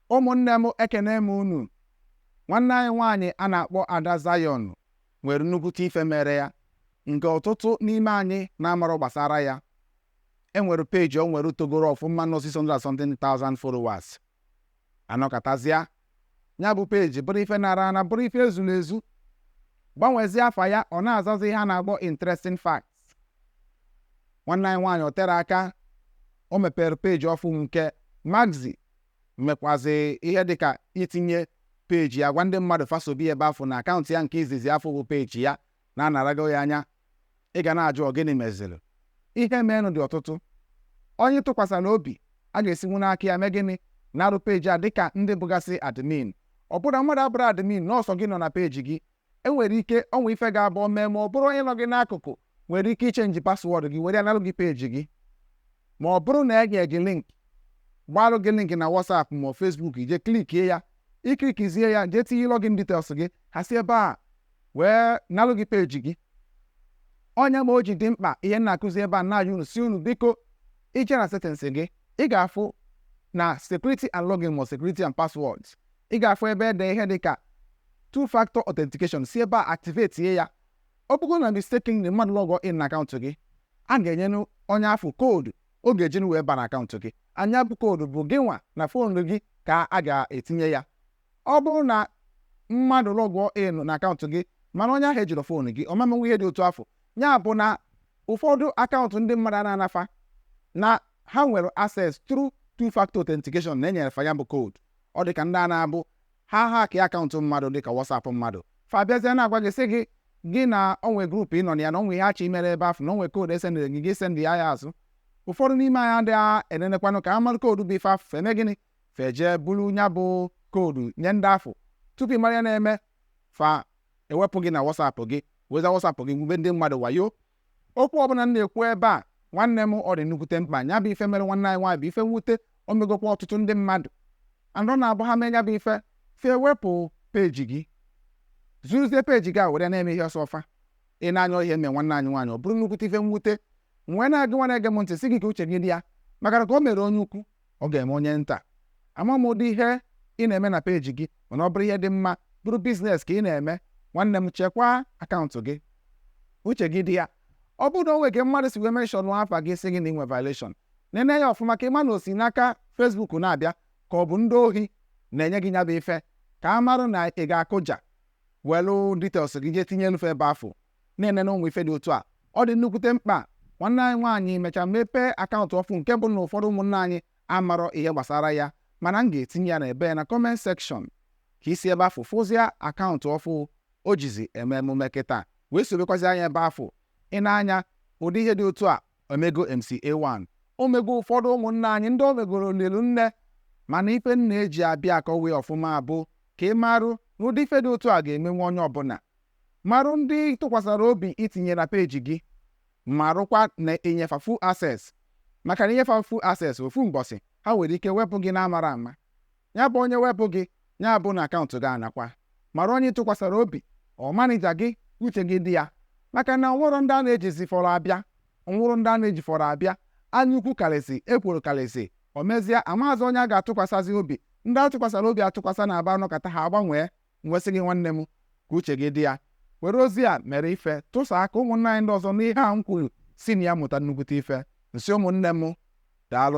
Ụmụnne m ekene m unu. Nwanne anyị nwaanyị a na-akpọ Ada Zion nwere nnukwute ife mere ya nke ọtụtụ n'ime anyị na-amarọ gbasara ya. E nwere peeji o nwere togoro ọfụma nọ 600 and something thousand followers. Anọkatazịa, ya bụ peeji bụrụ ife a nara ana bụrụ ife e zuru ezu. Gbanwezie afa ya ọ na-azazi ihe a na-akpọ interesting facts. Nwanne anyị nwaanyị o tere aka o mepere peeji ọfụụ nke m ga-ezi mmekwazị ihe dịka itinye peji ya gwa ndị mmadụ fa sobe ya ebe afụ na akaụntụ ya nke izizi afụ bụ peji ya na a narago ya anya ị ga na-ajụ ọ gịnị meziri ihe meenụ dị ọtụtụ onye ị tụkwasara obi a ga-esinwu n'aka ya mee gịnị narụ peji a dịka ndị bụgasị admin ọ bụrụ na mmadụ abụrọ admin na ọ sọ gị nọ na peji gị e nwere ike o nwee ife ga-abụ mee ma ọ bụrụ onye nọ gị n'akụkụ nwere ike ichenji paswọọdụ gị were nalụ gị peji gị ma ọ bụrụ na e nye gị link gbalụ gị link na WhatsApp ma ọ Facebook i je klikie ya i klikizie ya jee tinye login details gị ha si ebe a wee nalụ gị peji gị ọ nya mere o ji dị mkpa ihe m na-akụzi ebe a na-ayọ unu sị unu biko i je na settings gị ị ga-afụ na security and login ma security and passwords ị ga-afụ ebe e de ihe dị ka two factor authentication si ebe a activate ya ọ bụrụ na mistakenly mmadụ lọgụọ in na akaụntụ gị a ga-enye onye afụ koodu ọ ga-eji wee ba na akaụntụ gị and nya bụ koodu bụ gị nwa na fon gị ka a ga-etinye ya ọ bụrụ na mmadụ lọgụọ in na akaụntụ gị mana onye ahụ ejirọ fon gị ọ ma menwu ihe dị otu afụ ya bụ na ụfọdụ akaụntụ ndị mmadụ a na-ana fa na ha nwere access through two factor authentication na e nyere fa ya bụ koodu ọ dị ka ndị a na-abụ ha hackịa akaụntụ mmadụ dị ka WhatsApp mmadụ fa abịazie na-agwa gị sị gị na o nwe grupu ị nọ na ya na o nwe ihe a chọ imere ebe afụ na o nwe koodu e sendịrị gị gị sendịa ya azụ ụfọdụ n'ime anyị adịghị enenekwanụ ka a malụ koodu bụ ife afụ fa emee gịnị fa ejee bulu nya bụ koodu nye ndị afụ tupu ị mara ihe na-eme fa ewepụ gị na WhatsApp gị wezie WhatsApp gị gwube ndị mmadụ wayo Okwu ọbụla m na-ekwu ebe a, nwanne m, ọ dị nnukwute mkpa. Ya bụ ife mere nwanne anyị nwaanyị bụ ife mwute, o megokwa ọtụtụ ndị mmadụ. And ọ na-abụ ha mee ya bụ ife, fa ewepụ peji gị, zuruzie peji gị a were ya na-eme ihe ọ sọ fa. I nee anya ihe mee nwanne anyị nwaanyị, ọ bụrụ nnukwute ife mwute. M wee na-agwa gị nwa na-ege m ntị sị gị ka uche gị dị ya, maka na ka o mere onye ukwu, ọ ga-eme onye nta ama m ụdị ihe ị na-eme na peji gị mana ọ bụrụ ihe dị mma bụrụ biznes ka ị na-eme nwanne m chekwaa akaụntụ gị uche gị dị ya ọ bụrụ na o nwere ka mmadụ si wee menshọn afa gị sị gị na i nwe violation nene ya ọfụma ka ị ma na o si n'aka Facebook na-abịa ka ọ bụ ndị ohi na-enye gị nya bụ ife ka a marụ na ị ga-akụja welu details gị jee tinyelu fa ebe afụ na-enene ụmụ ife dị otu a ọ dị nnukwute mkpa nwanne anyị nwaanyị mechaa mepee akaụntụ ọfụ nke bụ na ụfọdụ ụmụnna anyị amarọ ihe gbasara ya mana m ga-etinye ya na ebe na kọment sekshọn ka i si ebe afụ fụzia akaụntụ ọfụ o jizi eme emume kịta wee sobekwazia ya ebe afụ ị na-anụ ya ụdị ihe dị otu a o mego MCA1 o mego ụfọdụ ụmụnna anyị ndị o megoro lilu nne mana ife m na-eji abịa akọwa ya ọfụma bụ ka ị marụ na ụdị ife dị otu a ga-emenwe onye ọbụla Marụ ndị ị tụkwasara obi itinye na peeji gị marụkwa na ị nye fa full access maka na ị nye fa full access ofu mbọsị ha nwere ike wepụ gị n'amarọ ama ya bụ onye wepụ gị ya bụ na akaụntụ gị anakwa mara onye ị tụkwasara obi ọ manija gị uche gị dị ya maka na nwụrụ ndị a na-ejizi fọrọ abịa nwụrụ ndị a na-eji fọrọ abịa anya ukwu karịsị ekworo karịsị o mezie amaazị onye a ga-atụkwasazị obi ndị a tụkwasara obi atụkwasa na-abịa anọkata ha agbanwee M wee sị gị, nwanne m, ka uche gị dị ya. Were ozi a mere ife, tụsaa ka ụmụnna anyị ndị ọzọ nụ ihe a m kwuru, si na ya mụta nnukwute ife. M sị ụmụnne m, Daalụ.